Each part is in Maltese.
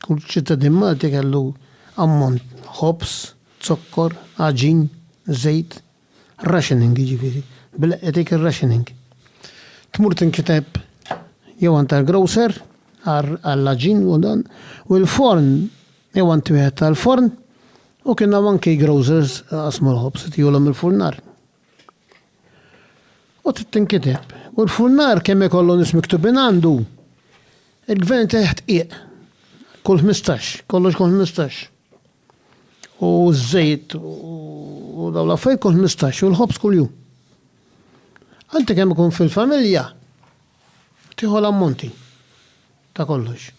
Kull ċittadin Malti kellu ammont ħobż, zokkor, għaġin, żejt, rationing jiġifieri, bil-Leqqi tgħid ir-rationing. Tmur tinkiteb jew għand tal-grocer għall-għaġin u dan, u il-forn jew għand wieħed tal-forn, u kien hawn anki grocers li qasmu l-ħobż, tihulhom il-furnar. U trid tinkiteb. U l-furnar kemm ikollu nies miktubin għandu, il-gvern teħt qiegħ. Kull 15, kollox kull 15. U ż-żejt u daw l-affarijiet kull 15 u l-ħobż kull jum. Għanti kemm ikun fil-familja, tieħu l-ammonti ta' kollox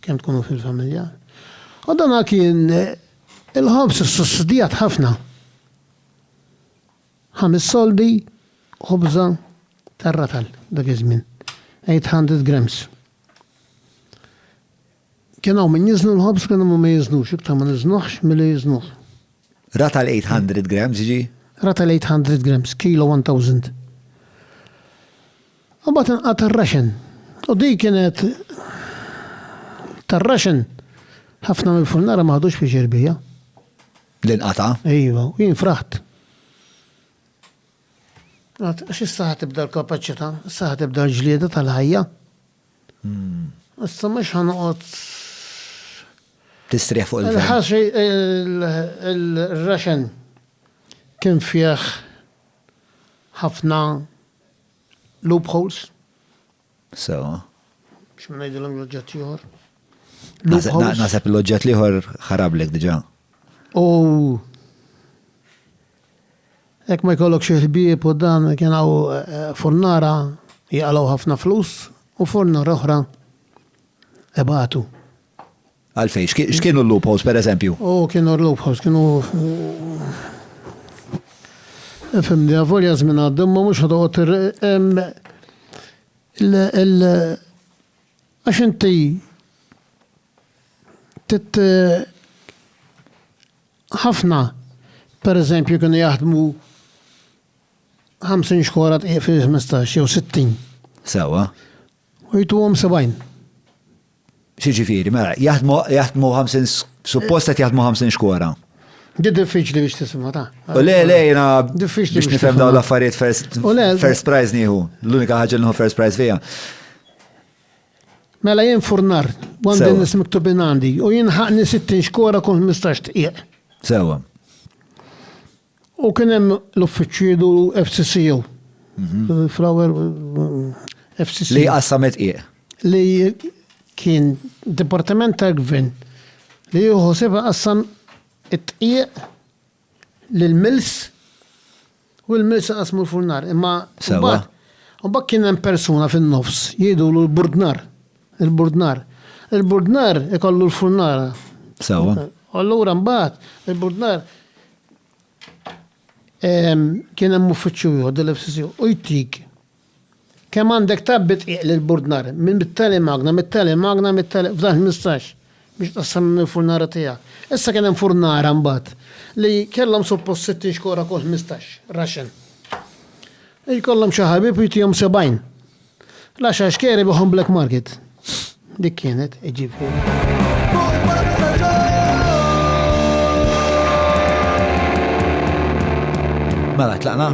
kemm tkunu fil-familja. U dan kien il-ħobż sussidjat ħafna. Ħames soldi ħobża tar-ratal dak iż-żmien, 800 grams. Kien hawn min jiżnu l-ħobż kien hawn ma jiżnux, iktar ma niżnuhx milli jiżnuh. Ratal 800 grams ġi? Ratal 800 grams, kilo 1000. U mbagħad inqata' r-raxen. U di kienet tar-raxen ħafna mill-furnara ma ħadux pjaċir bija. Li nqata'? Iva, u jien fraħt. Għad, għax issa ħa tibda l-kapaċità, issa ħa tibda l-ġlieda tal-ħajja. Hmm. Issa mhux ħanoqgħod tistrieħ fuq il-ħaxi. Il-ħaxi il-raxen kien fih ħafna loopholes, Sewa. X'ma ngħidilhom l-oġġett l-ieħor? Naħseb l-oġġett l-ieħor ħarablek diġà. U hekk ma jkollok xi ħbieb u dan kien hawn eh, furnara jaqalgħu ħafna flus u furnara oħra ebatu. Għalfejn? X'kienu l-loopholes, per eżempju? U kienu l-loopholes, kienu. Fim di għavolja żmien għaddim, ma mhux ħadoqgħod il Għax inti tit ħafna, per eżempju, kienu jaħdmu 50 xkora tqiq fi 15 jew 60. Sewa. U jtuhom 70. X'jiġifieri, mela, jaħdmu jaħdmu 50 suppost qed jaħdmu 50 xkora. Di diffiċli biex tisimha ta'. U le, le, jena. Diffiċli biex nifhem dawn l-affarijiet first. U le. First prize nieħu. L-unika ħaġa li first prize fija. Mela jien furnar, għandin nis miktubin għandi, u jien ħaqni 60 xkora kun 15 tqiq. Sewa. U kien hemm l-uffiċċidu FCCU. Flower FCCU. Li qassamet qiegħ. Li kien dipartiment tal-gvern li jieħu seba qassam it-tqieq lill-mills u l-mills qasmu l-furnar. Imma mbagħad kien hemm persuna fin-nofs jgħidulu l-burdnar. Il-burdnar. Il-burdnar ikollu l-furnara. Sewa. U allura mbagħad il-burdnar kien hemm uffiċċju ieħor dil-FCC u jtik kemm għandek tabbi tqiq lill-burdnar minn mit-tali magna, mit-tali magna, mit-tali f'dan 15 biex tqassam il-furnara tiegħek. Issa kien hemm furnara mbagħad li kellhom suppost 60 xkora kull 15 raxen. Jkollhom xi ħabib u jtihom 70. L-għaxar xkeri bihom black market. Dik kienet, jiġifieri. Mela, tlaqna?